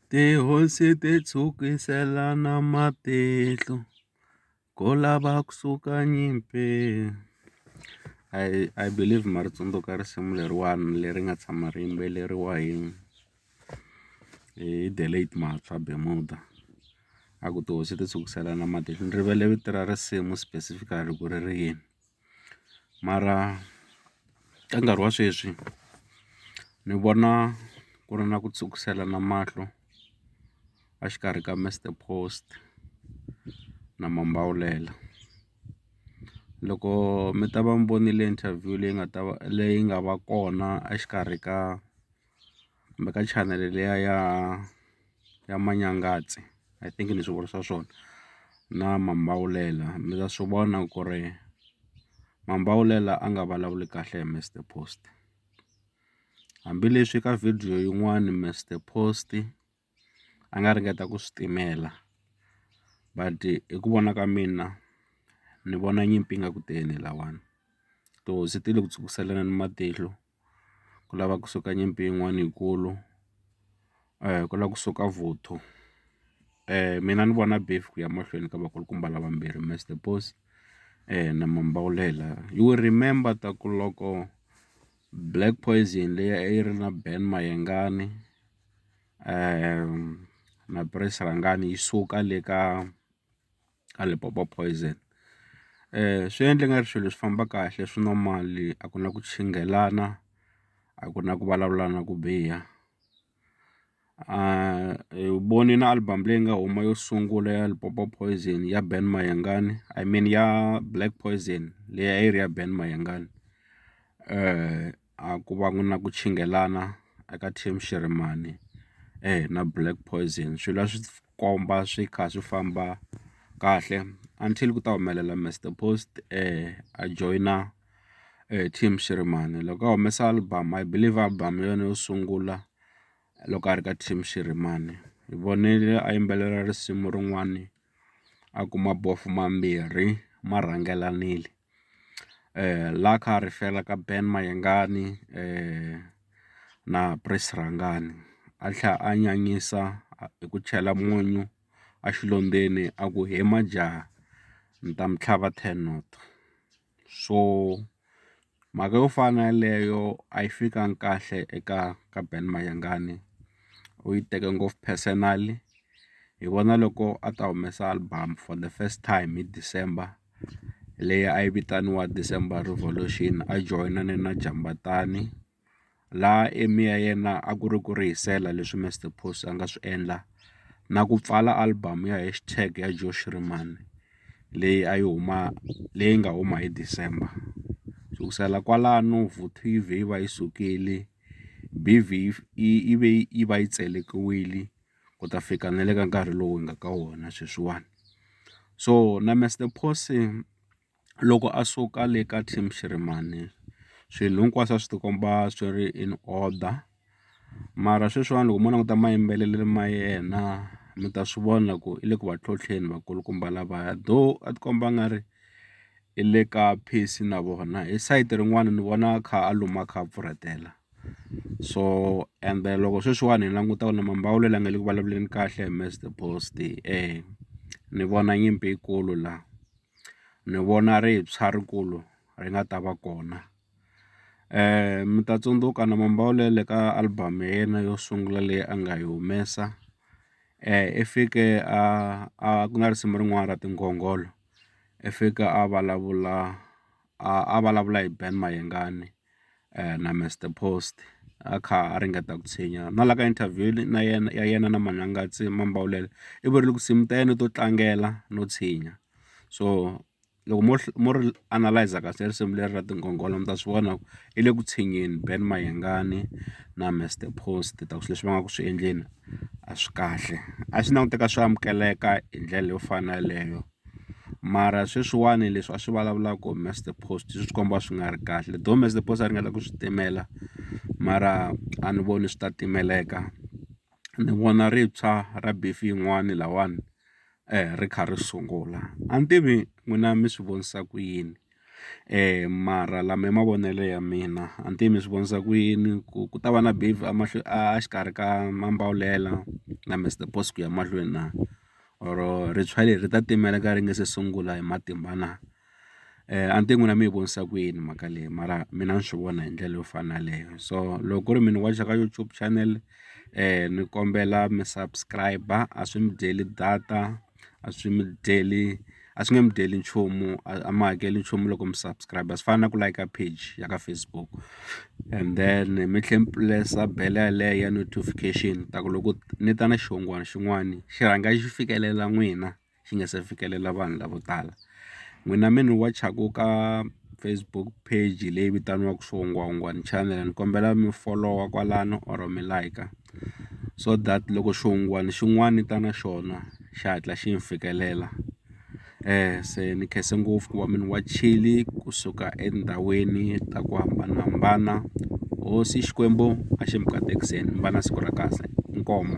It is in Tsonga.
Tihosi ti tshwukiselana matihlo ko lava ku suka nyimpi I I believe ma ri tsundzuka risimu leriwani leri nga tshama ri yimbeleriwa hi hi the late Mahatshwa Bemuda a ku tihosi ti tshwukiselana matihlo ni rivele vito ra risimu specifically ku ri ri yini. mara ka nkarhi wa sweswi ni vona ku ri na ku tshwukiselana mahlo a xikarhi ka Mister Post na Mambawulela loko mi ta va mi vonile interview leyi nga ta va leyi nga va kona a xikarhi ka. kumbe ka chanele liya ya ya Manyangatse I think ni swi vurisa swona na Mambawulela mi ta swi vona ku ri Mambawulela a nga vulavuli kahle hi Mister Post hambileswi ka video yin'wani Mister Post. a nga ringeta ku swi timela but hi ku vona ka mina ni vona nyimpi yi nga ku teni lahawani tihosi se ti le ku tshwukiseleni matihlo ku lava kusuka nyimpi yin'wana yikulu ku lava kusuka vuthu mina ni vona beef ku ya mahlweni ka vakulukumba lavambirhi Mister Boss na Mambawulela you will remember ta ku loko Black poison leyi a yi ri na Ben Mayengani. maphilisi rhangani yi suka le ka ka Limpopo Poison swi endle nga ri swilo leswi famba kahle swi nwa mali a ku na ku chinghelana a ku na ku vulavula na ku biha hi voni na album leyi nga huma yo sungula ya Limpopo Poison ya Ben Mayengani I mean ya Black Poison leyi a yi ri ya Ben Mayengani . a ku va na ku chinghelana eka team Xirhemani na Black Poison swilo a swi komba swi kha swi famba kahle until ku ta humelela Mister Post a joyina team Xirhemani loko a humesa album I believe album hi yona yo sungula loko a ri ka team Xirhemani hi vonile a yimbelela risimu rin'wani a kuma mambirhi ma rhangelanile. la kha a refer-a ka Ben Mayengani na Prince Rhangani a tlhela a nyanyisa hi ku chela munyu exilondzweni a ku he majaha ni ta mi tlhava ten not so mhaka yo fana na yeleyo a yi fikanga kahle eka ka Ben Mayengani u yi teke ngopfu personally hi vona loko a ta humesa album for the first time hi December. leyi a yi vitaniwa December Revolution a joyinane na Jambatani laha aim ya yena a ku ri ku rihisela leswi Mister Post a nga swi endla na ku pfala album ya Hash Tag ya Joe Shirimani leyi a yi huma leyi nga huma hi December sukusela kwalano yi va yi sukile yi ve yi tselekiwile. ku ta fika na le ka nkarhi lowu hi nga ka wona sweswiwani so na Mister Posse loko a suka le ka team Shirimani swilo hinkwaswo a swi ti komba swi ri in order mara sweswiwani loko mo languta mayimbelelelo ma yena mi ta swi vona ku i le ku va ntlhontlheni vakulukumba lavaya though a ti komba a nga ri i le ka pace na vona hi sayiti rin'wana ni vona a kha a luma a kha a pfurhetela. so ende loko sweswiwani hi languta ku na mambawulelo ya nga le ku vulavuleni kahle hi mr Post ni vona nyimpi yikulu la ni vona rintshwa rikulu ri nga ta va kona mi ta tsundzuka na mambawulelo ka album ya yena yo sungula leyi a nga yi humesa i fike a a ku nga risimu rin'wana ra tingongolo i fika a vulavula a vulavula hi Ben Mayengani na Mister Post a kha a ringeta ku tshinya na la ka interview na yena ya yena na Manghangatsi Mambawulele i vurile ku nsimu ta yena to tlangela no tshinya so loko mo mo ri analyse kahle risimu leri ra tinghongholo mi ta swi vona ku i le ku tshinyeni Ben Mayengani na Mister Post ta ku swilo leswi va nga ku swi endleni a swi kahle a swi languteka swi amukeleka hi ndlela yo fana na yeleyo. mara sweswiwani leswi a swi vulavulaka must the post swi komba swi nga ri kahle though must the post a ringeta ku swi timela mara a ni voni swi ta timeleka ni vona rintshwa ra beef yin'wani lahawani ri kha ri sungula a ni tivi n'wina mi swi vonisa ku yini. mara lama i mavonelo ya mina a ni tivi mi swi vonisa ku yini ku ku ta va na a xikarhi ka Mambawulela na Mister Boss ku ya mahlweni na or rintshwa leri ri ta timelaka ri nga se sungula hi matimba na a ni tivi n'wina mi yi vonisa ku yini mhaka leyi mara mina ni swi vona hi ndlela yo fana na yaleyo so loko ku ri mi ni wacha ka YouTube channel ni kombela mi subscribe a swi mi dyeli data. a swi mi dyeli a swi nge mi dyeli nchumu a mi hakeli nchumu loko mi subscribe swi fana na ku layika page ya ka Facebook and then mi tlhe mi pulesa bele yaleyo ya notification ta ku loko ni ta na xihungwana xin'wani xi rhanga xi fikelela n'wina xi nga se fikelela vanhu lavo tala n'wina mi ni wachaku ka Facebook page leyi vitaniwaku swihungwahungwani channel ni kombela mi folowa kwalano or mi layika. so that loko xihungwani xin'wana ni ta na xona xi hatla xi ni fikelela se ni khensa ngopfu ku va munhu wa chilli kusuka etindhawini ta ku hambanahambana hosi Xikwembu a xi mi katekiseni mi va na siku ra kahle inkomu.